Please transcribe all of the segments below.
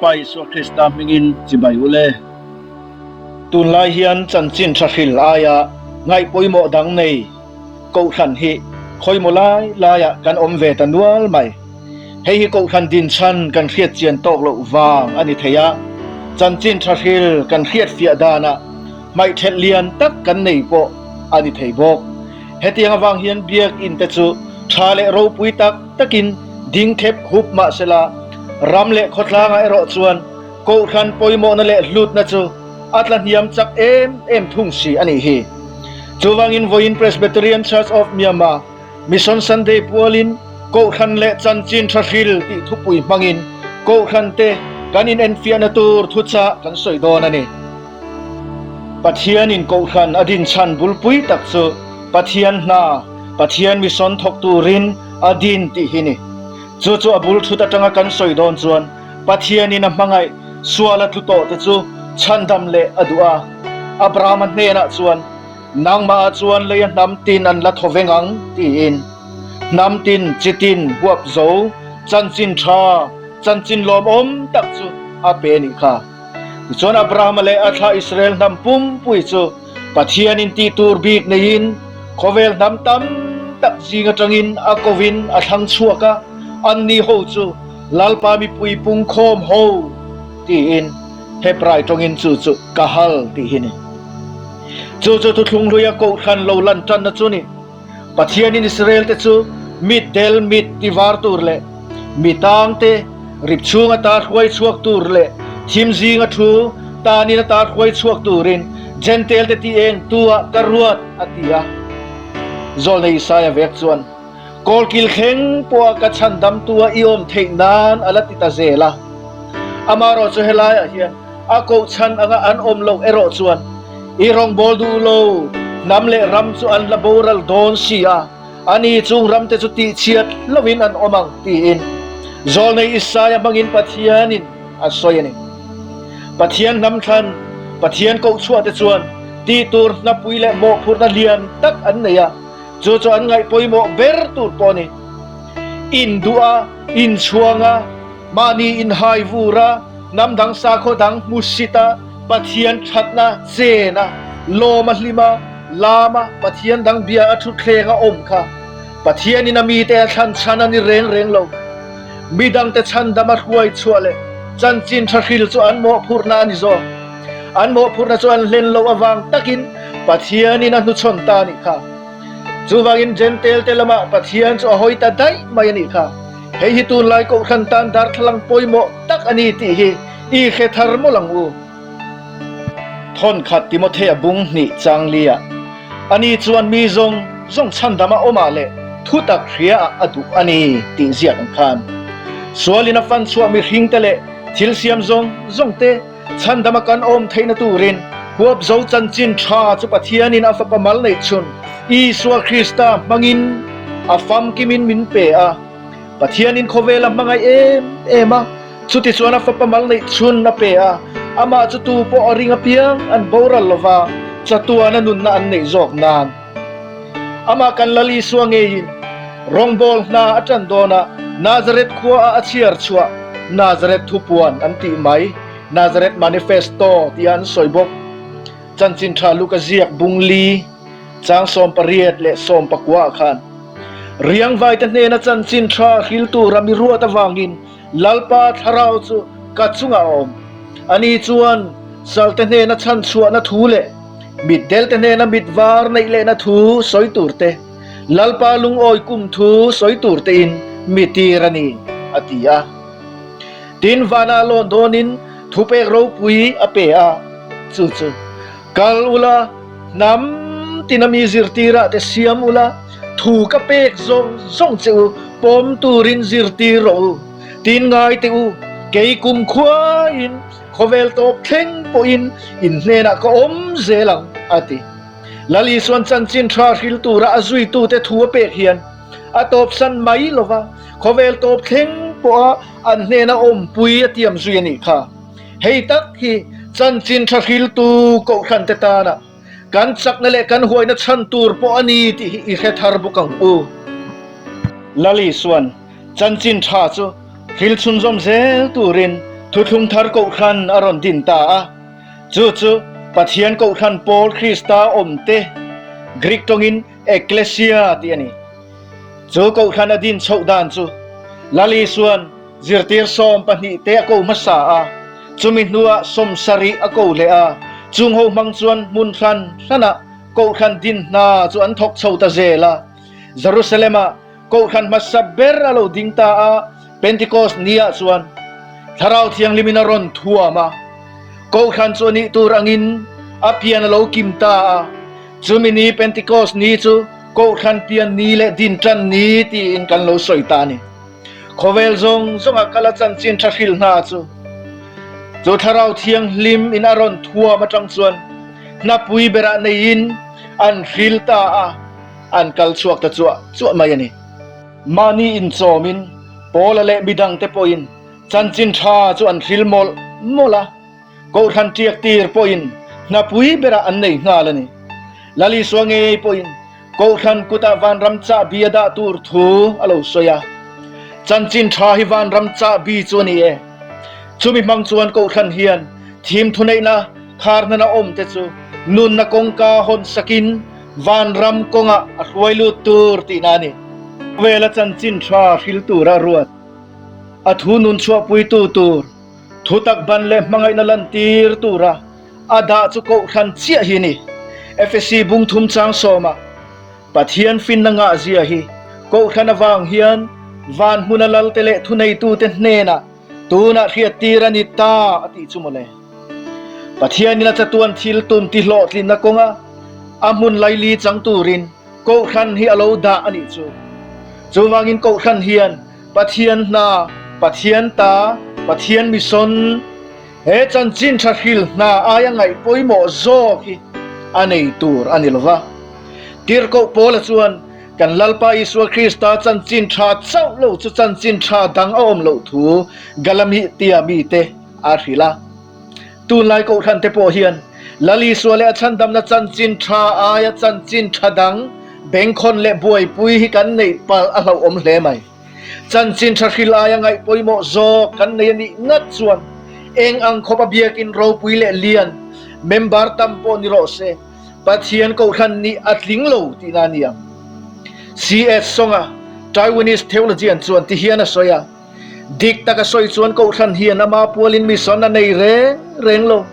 Pa Isua Krista hmingin chibai u le. Tunlai hian chanchin tha hril aia ngaih pawimawh dang nei Kohhran hi khawimaw lai laiah kan awm ve ta nual mai. Hei hi Kohhran dinchhan kan hriatchian tawk loh vang a ni thei a, chanchin tha hril kan hriatfiah danah hmaihthelh lian tak kan nei pawh a ni thei bawk. Hetiang avang hian Biakinn te chu tha leh ropui tak takin ding thlep hup mah sela, ram leh khawtlanga erawh chuan kohhran pawimawhna leh hlutna chu a tla hniam chak em em thung si a nih hi. Chuvangin vawiin Presbyterian Church of Myanmar Mission Sunday pualin kohhran leh chanchin thahril tih thupui hmangin kohhrante kan inenfiahna tur thuchah kan sawi dawn a ni. Pathianin Kohhran a dinchhan bulpui tak chu Pathian hna, Pathian mission thawk turin a din tih hi ni. Chu chu a bul thut atanga kan sawi dawn chuan Pathianin a hmangaih sual a tlu tawh te chu chhandam leh a duh a. Abrahama hnenah chuan, Nangmah-a chuan lei a hnam tin an la thaw ve ngang tiin, hnam tin, chi tin, huap zo, chanchin tha, chanchin lawmawm tak chu a pe nih kha. Tichuan Abrahama leh a thla Israel hnam pumpui chu Pathianin tih tur bik neiin khawvel hnam tam tak zing atangin a kovin a thlang chhuak a, anni ho chu Lalpa mipui pungkhawm ho tiin Hebrai tawngin chu chu Kahal tih hi ni. Chu chu Thuthunghluia Kohhran lo lanṭanna chu ni. Pathianin Israelte chu mit del, mit ti var tur leh mi tang te, rip chhung a tar hruai chhuak tur leh thim zing a thu tanin a tar hruai chhuak turin Jentalte ti eng tuah ka ruat a ti a. Zawlna Isaiah vek chuan, Kawl kil thleng pawha ka chhandamtu a i awm theih nan a la ti ta zel a. Amaherawhchu helaiah hian A kohchhan anga an awm loh erawh chuan i rawngbâwl duh lo, hnam leh ram chu an la boral dâwn si a, ani chung ram te chu tihchhiat lovin an awm ang, tiin Zawlnei Isaiah hmangin Pathianin a sawi a ni. Pathian hnam thlan, Pathian kohchhuah te chuan tih tur hnapui leh mawhphurhna lian tak an nei a, chu chu an ngaihpawimawh ber tur pawh a ni. Induh a, inchhuang a, Mahni inhai vura, nam dang sakhaw dang hmu sita, Pathian thatna chena lawm a hlim a, lama Pathian dang bia a thutthleng a awm kha Pathian ina mite a thlan chhan a ni reng reng lo. Midangte chhandam a hruai chhuah leh chanchin tha hril chu an mawhphurhna a ni zawk. An mawhphurhna chu an hlen loh avang takin Pathian in a hnuchhawn ta a nih kha. Chuvangin Jentail te lamah Pathian chu a hawi ta daih mai a nih kha. Hei hi tunlai kohhran tan darthlalang pawimawh tak a ni tih hi i hre thar mawlh ang u. Thawnkhat Timothy a bung hnih Changli ah ani chuan mi zawng zawng chhandam a awmah leh thutak hria ah a duh a ni tih ziak ang khan sualin a fan chhuah mihringte leh thilsiam zawng zawngte Chhan dama kan awm theihna turin Huapzo chanchin tha chu Pathianin a fapa mal neih chhun Isua Krista hmangin a famkimin min pe a. Pathianin khawvela hmangaih em em a, chutichuan a fapa mal neih chhun a pe a. Amah chu tu pawh a ring apiang an boral lova chatuana nunna an neih zawk nan. Amah kan Lal Isua ngeiin rawngbâwl hna a ṭan dâwnah Nazareth khuaa a chhiar chhuah. Nazareth thupuan an tih mai, Nazareth Manifesto tiah an sawi bawk. Chanchin ṭha luka ziak bung li chang sawm pariat leh sawm pakua ah khan riangvaite hnena chanchin ṭha hriltu rami ruat avangin, Lalpa Thlarau chu ka chungah a awm. Ani chuan salte hnena chhanchhuahna thu leh mitdelte hnena mitvar neih lehna thu sawi turte, Lalpa lungawi kum thu sawi turtein mi tir a ni, a ti a. Tin vanah lawn dawnin thupek ropui a pe a, chu chu. Kal ula, hnam tina mi zirtirah te siam ula, thu ka pek zawng zawng che u, pawm turin zirtir rawh u, tin ngai teh u, kei kum khuain khawvel tawp thleng pawhin in hnenah ka awm zel ang, a ti. Lali chuan chanchin tha hril tura a zuitute thu a pek hian a tawpsan mai lova, khawvel tawp thleng pawha an hnena awmpui a tiam zui a nih kha. Hei tak hi chanchin tha hriltu kohhrante tana kan chakna leh kan huaina chhan tur pawh a ni tih hi i hre thar bawk ang u. Lali chuan chanchin tha chu hril chhunzawm zel turin thuthlung thar kohhran a rawn din ta a, chu chu Pathian kohhran pawl Krista awmte, Greek tawngin ekklesia tih a ni, chu kohhran a din chhoh dan chu Lali chuan, Zirtir sawm pahnih te a ko hmasa a, chumi hnuah sawmsarih a ko leh a, chung ho hmang chuan hmun hran hranah kohhran din hna chu an thawk chho ta zel a. Jerusalem ah kohhran hmasa ber a lo ding ta a, Pentecost ni ah chuan Thlarau Thianghlim in a rawn thuam a, kohhran chu a nih tur angin a pian a lo kim ta a. Chumi ni Pentecost ni chu kohhran pian ni leh din tan ni tiin kan lo sawi ta a ni. Khawvel zawng zawngah ka la chanchin tha hril hna chu chu Thlarau Thianghlim in a rawn thuam atang chuan hnapui berah neiin an hril ta a, an kal chhuak ta chuah chuah mai a ni. Mahni inchawmin Paula leh midangte pawhin chanchin tha chu an hril mawlh mawlh a. Kohhran tiak tir pawhin hnapui berah an nei nghal a ni. Lali Sual Ngei pawhin Kohhran kutah vanram chah bi a dah tur thu a lo sawi a, Chanchin tha hi vanram chah bi chu a ni e. Chumi hmang chuan Kohhran hian thim thuneihna khar hnan a awmte chu nunna kawngka hawn sakin vanram kawngah a hruai lut tur tihna a ni. Vela Chanchin tha hril tura ruat a thu nun chhuah puitu tur. Thutak ban leh hmangaihna lantir tura a dah chu kohhran chiah hi ni. Efesi bungthum chang sawma Pathian finna ngahzia hi kohhran avang hian van hmuna lalte leh thuneitute hnena tunah hriattir a ni ta a tih chu mawle. Pathianin a chatuan thil tum tihlawhtlinna kawnga a hmun laili chang turin kohhran hi a lo dah a nih chu. Chuvangin kohhran hian Pathian hna, Pathian ta, Pathian mission, he chanchin thahril hna aia ngaih pawimawh zawk hi a nei tur a ni lo va. Tirhkoh pawla chuan kan Lalpa Isua Krista chanchin tha chauh lo chu chanchin tha dang a awm loh thu Galami tia mite a hrilh a. Tunlai Kohhran te pawh hian Lalisua leh a chhandamna chanchin tha aia chanchin tha dang Bengkhawn leh Buaipui hi kan neih palh a hlauhawm hle mai. Chanchin tha hril aia ngaih pawimawh zawk kan nei a nih ngat chuan eng ang khawpa biakin ropui leh lian member tam pawh ni rawh se Pathian Kohhran nih a tling lo tihna a ni ang. CS Sawng a Taiwanese Theologian chuan ti hian a sawi a. Dik taka sawi chuan Kohhran hian ama pualin mission a nei reng reng lo.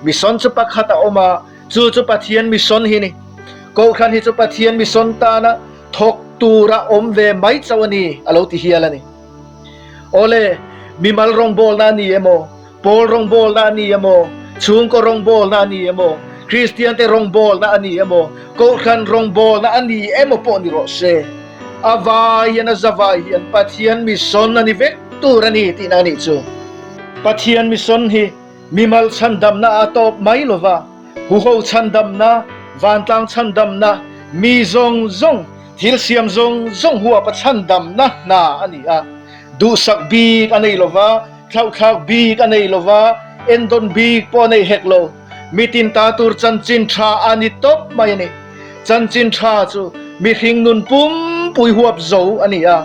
Mission chu pakhat a awm a, chu chu Pathian mission hi a ni. Kohhran hi chu Pathian mission tana thawk tura awm ve mai chauh a ni, a lo ti hial a ni. Awle, mimal rawngbawlna a ni emaw, Pawl rawngbawlna a ni emaw? Chhungkaw rawngbawlna a ni emaw? Kristiante rawngbawlna a ni emaw? Kohhran rawngbawlna a ni emaw pawh ni rawh se, a vai hian a zavai hian Pathian mission a ni vek tur a ni tihna a nih chu. Pathian mission hi mimal chhandamna a tawp mai lo va, huho chhandamna, vantlang chhandamna, mi zawng zawng, thil siam zawng zawng huapa chhandamna hna a ni a, duhsak bik a nei lo va. Hlauhthlak bik a nei lova, endawn bik pawh a nei hek lo. Mitin ta tur chanchin tha a ni tawp mai a ni. Chanchin tha chu mihring nun pumpui huap zo a ni a.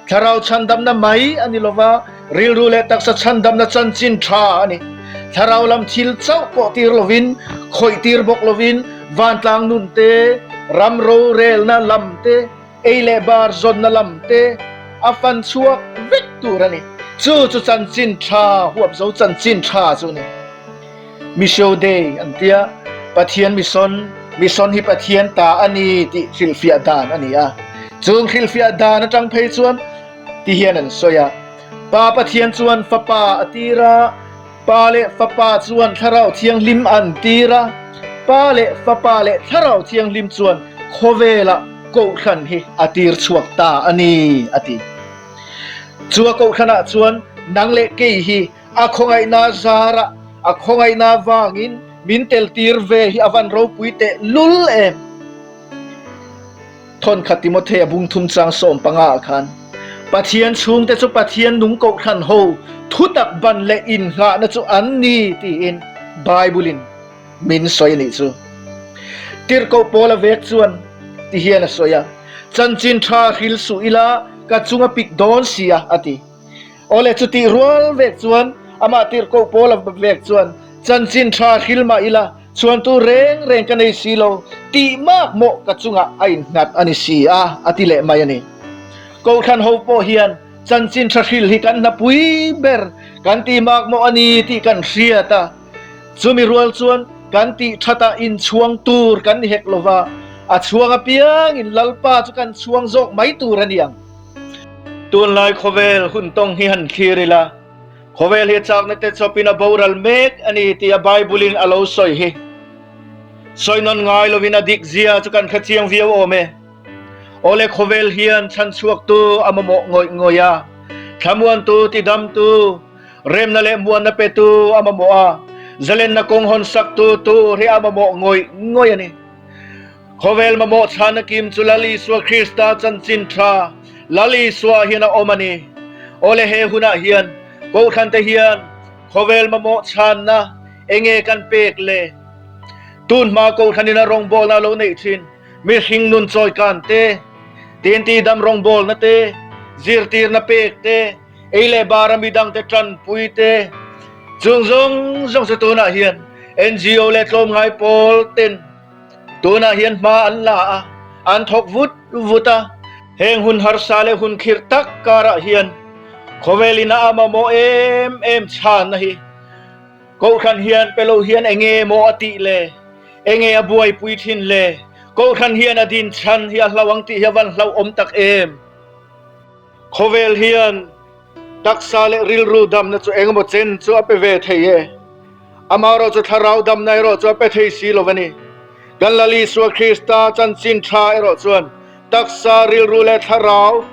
Thlarau chhandamna mai a ni lova, rilru leh taksa chhandamna chanchin tha a ni. Thlarau lam thil chauh pawh tir lovin, khawih tir bawk lovin, vantlang nun te, ram rorelna lam te, Ei leh bar zawnna lam te a fan chhuak vek tur a ni. Chu chu chanchin tha, huap zo chanchin tha chu a ni. Miso Day an tia, Pathian Mison, Mison hi Pathian ta a ni tih hrilhfiah dan a ni a. Chung hrilhfiah dan atang phei chuan ti hian an sawi a, Pa Pathian chuan Fapa a tira, Pa leh Fapa chuan Thlarau Thianghlim an tir a, Pa leh Fapa leh Thlarau Thianghlim chuan khawvela Kohhran hi a tir chhuak ta a ni a ti. Chu a Kohhranah chuan nang leh kei hi a khawngaihna zarah a khawngaihna vangin min teltir ve hi a van ropui teh lul em! Thawnkhat Timothy a bung thum chang sawm panga ah khan, Pathian chhungte chu Pathian nung kohhran ho thutak ban leh innghahna chu an ni tiin Bible-in min sawi a nih chu. Tirhkoh Paula vek chuan ti hian a sawi a, Chanchin tha hril suh ila ka chunga pik dawn si a, a ti. Awle chu tih rual vek chuan amah Tirhkoh Paula vek chuan chanchin tha hril mah ila, Chuan tu reng reng ka nei si lo tih mak mawh ka chungah a innghat a ni si a, a ti leh mai a ni. Kohhran ho pawh hian chanchin tha hril hi kan hna pui ber kan ti mak mawh a ni tih kan hriat a, chumi rual chuan kan tih that a inchhuang tur kan ni hek lova, a chhuang apiangin Lalpa chu kan chhuang zawk mai tur a ni ang. Tunlai khawvel hun tawng hi han thlir ila. Khawvel hi chakna te chawpin a boral mek a ni tia Bible-in a lo sawi hi. Sawinawn ngai lovin a dik zia chu kan hre chiang viau awm e. Awle khawvel hian chhanchhuaktu a mamawh ngawih ngawih a, thlamuantu, tidamtu, remna leh muanna petu a mamawh a, zalenna kawng hawn saktu tur hi a mamawh ngawih ngawih a ni. Khawvel mamawh chhana kim chu Lal Isua Krista chanchin tha Lal Isua hian a awm a ni. Awle he hunah hian Kohhrante hian khawvel mamawh chhanna enge kan pek le? Tunhma Kohhranin a rawngbawlna a lo neih thin mihring nun chawikan te, tinti dam rawngbawlna te, zirtirna pek te, ei leh bara midang te tanpui te, chung zawng zawng chu tunah hian NGO leh tlawmngai pawl ten, Tunah hian hma an la a, an thawk vut vut a. Heng hun harsa leh hun khirh tak karah hian khawvelin a am a maw em em chhanna hi Kohhran hian pe lo hian enge maw a tih le enge a buaipui thin le Kohhran hian a din chhan hi a hlau ang tih hi a van hlauhawm tak em. Khawvel hian taksa leh rilru damna chu engemaw chen chu a pe ve thei e. Amaherawh chu thlarau damna erawh chu a pe thei si lo a ni. Kan Lal Isua Krista chanchin tha erawh chuan taksa, rilru leh thlarau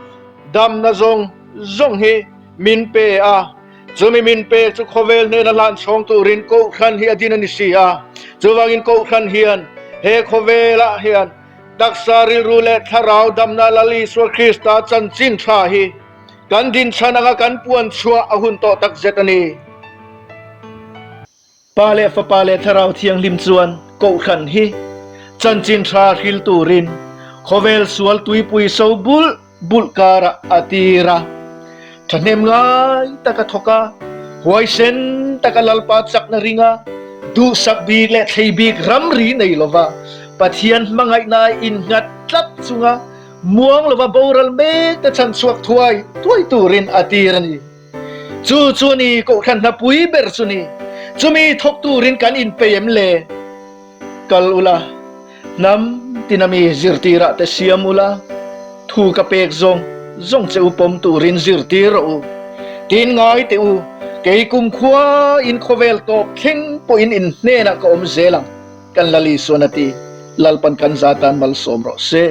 damna zawng zawng hi min pe a. Chumi min pek chu khawvel hnena hlanchhawng turin kohhran hi a din a ni si a. Chuvangin kohhran hian he khawvelah hian Taksa rilru leh thlarau damna Lal Isua Krista chanchin thla hi kan din chhan anga kan puan chhuah a hun tawh takzet a ni. Pa leh Fapa leh Thlarau Thianghlim chuan Kohhran hi chanchin thla hril turin khawvel sual tuipui sobul, bulh karah a tir a, thahnem ngai tak a thawk a, huaisen tak a lalpa chakna ring a, duhsak bik leh thlei bik ramri nei lova, Pathian hmangaihnaah innghat tlat chunga muang lova boral mek te chhan chhuak thuai thuai turin a tir a ni. Chu chu ni kohhran hna pui ber chu ni. Chumi thawk tur in kan in pei em le? Kal ula, hnam tina mi zirtir ah te siam ula, thu ka pek zawng zawng che u pawm tur in zirtir rawh u. Tin ngai teh u, kei kum khua in khawvel tawp thleng pawh in in hnen ah ka awm zel ang, kan Lali sawn a ti. Lalpan kan za tan malsawm rawh seh.